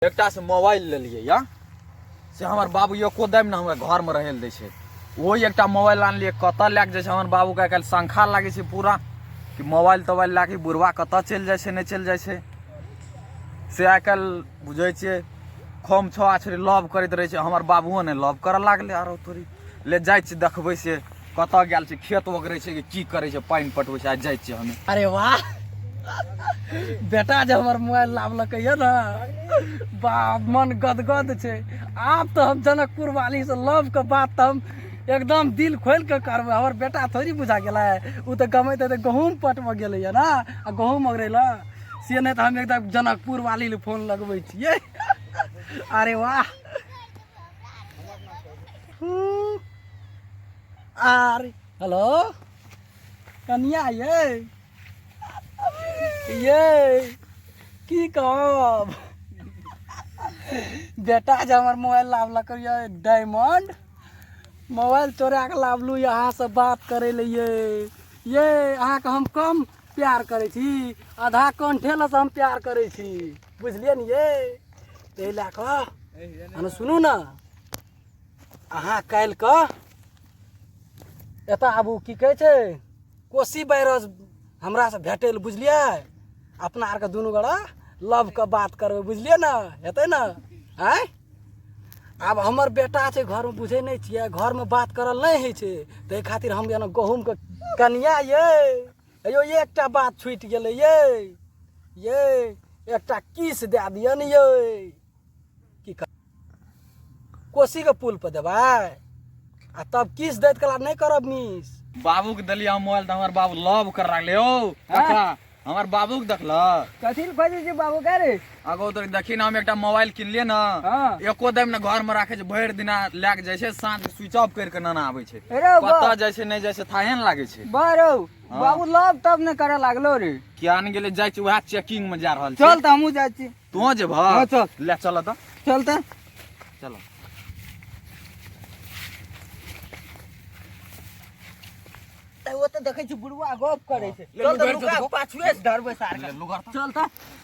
एकटा से मोबाइल लेलियै या से हमर बाबू एको दाम ने हमरा घरमे रहै लए दै छै ओहो एकटा मोबाइल आनलियै कतऽ लए कऽ जाइ छै हमर बाबूके आइ काल्हि शङ्खा लागै छै पूरा कि मोबाइल तोबाइल लए कऽ बुढ़वा कतऽ चलि जाइ छै नहि चलि जाइ छै से आइ काल्हि बुझै छियै खोम छो आछरी लव करैत रहै छै हमर बाबुओ ने लव करऽ लागलै आरो तोरी ले जाइ छी देखबै से कतऽ गेल छै खेत ओगरै छै कि की करै छै पानि पटबै छै आ जाइ छियै हमे अरे वाह बेटा जे हमर मोबाइल लावलकै यऽ ने बा मन गदगद छै आब तऽ हम जनकपुर वाली से लव के बात तऽ हम एकदम दिल खोलि कऽ करबै हमर बेटा थोड़ी बुझा गेलै ओ तऽ गमैत हेतै गहूँम पटबऽ गेलै यऽ ने आ गहूँम ओगरै लए से नहि तऽ हम एकदम जनकपुर वाली लए फोन लगबै छियै अरे वाह आर हेलो कनिया ये ये की कहब बेटा जे हमर मोबाइल लावलक ये डायमंड मोबाइल चोरा के लावलू यहाँ से बात करे ले ये ये अहाँके हम कम प्यार करै छी आधा कंठे लऽ से हम प्यार करै छी बुझलियै ने ये ताहि लए कऽ अहाँ सुनू ने अहाँ काल्हि कऽ एतऽ आबू की कहै छै कोसी बैरज हमरासँ भेटै लए बुझलियै अपना आरके दुनू गोरा लवके बात करबै बुझलियै ने हेतै ने आँय आब हमर बेटा छै घरमे बुझै नहि छियै घरमे बात करल नहि होइ छै ताहि खातिर हम जेना गहूँमके कनिया ये अयो ये एकटा बात छूटि गेलै ये ये एकटा किस दए दिअ ने ये की कर कोसीके पुलपर देबै आ तब किस दैत कला नहि करब मिस बाबूके देलियै हम मोबाइल तऽ हमर बाबू लव कर रहलै यौ ककरा हमर बाबूके देखलक कथी लए खोजै छै बाबू का रे अगो तो देखी ना हम एकटा मोबाइल किनलिए ना हाँ। एको दम ना घर में राखे भर दिन लैक जाए छे सांझ स्विच ऑफ करके ना आवे छे कत जाए छे नहीं जाए छे थाहे न लागे छे बारो हाँ। बाबू लव तब ने करे लागलो रे क्या न गेले जाए छे वहा चेकिंग में जा रहल छे चल त हमहु जाए छी तू जे भा हाँ, चल ले चल त चल त चलो वो तो देखे छी बुढ़वा गप करे छे चल त लुका पाछुए धरबे सार चल त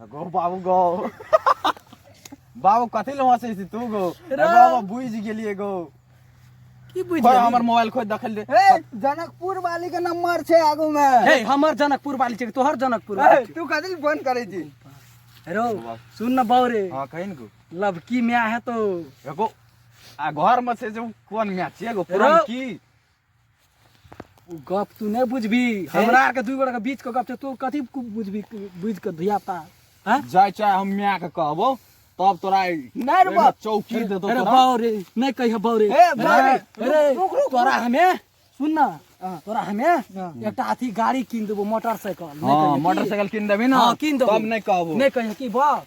गो बाबू गो बाबू कथी ले हंसै छी तू गो रे। बाबू बुझ गेलिए गो की बुझ खोज हमर मोबाइल खोज देखल दे हे जनकपुर वाली के नंबर छै आगू में हे हमर जनकपुर वाली छै तोहर जनकपुर हे, वाली तू कथी ले फोन करै छी छै। रो सुन न बाऊ रे हां कहिन गो लबकी म्या है तो एगो आ घर में से जो कोन मैच एगो पुरान रो। की ओ गप तू नहि बुझबी हमरा आरके दू गोटाके बीचके गप छै तू कथी बुझबी बुझि कऽ धियापुता हैं जाय चाहे हम माय के कहबो तब तोरा नहि रे बा चौकी दे दो अरे तोरा बाऊ रे नहीं कहिया बाऊ रे ए, बाऊ रे, अरे, अरे रुक, रुक, तोरा हमे सुन ना हाँ। तोरा हमे हाँ। एकटा अथी गाड़ी कीन देबो मोटरसाइकिल नहीं हाँ कहिया की? मोटरसाइकिल किन देबी ना हाँ, कीन देबो। तब नहीं कहबो नहीं कहिया की बाप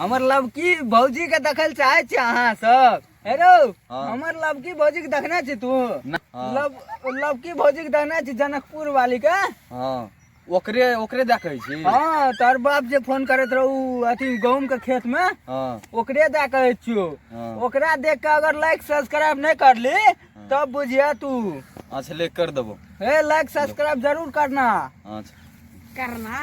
हमर लवकी भौजी के देखल चाहे छी अहाँ सब हेरो हाँ। हमर लवकी भौजी के देखने छी तू न- हाँ। लव लवकी भौजी के देखने छी जनकपुर वाली के हाँ ओकरे ओकरे देखै छी हाँ तोहर बाप जे फोन करैत रहू अथी गहूम के खेत में हाँ ओकरे दे कहै छियो हाँ। ओकरा देख के अगर लाइक सब्सक्राइब नहीं करली तब बुझिया तू अच्छा ले कर देबो हे लाइक सब्सक्राइब जरूर करना अच्छा करना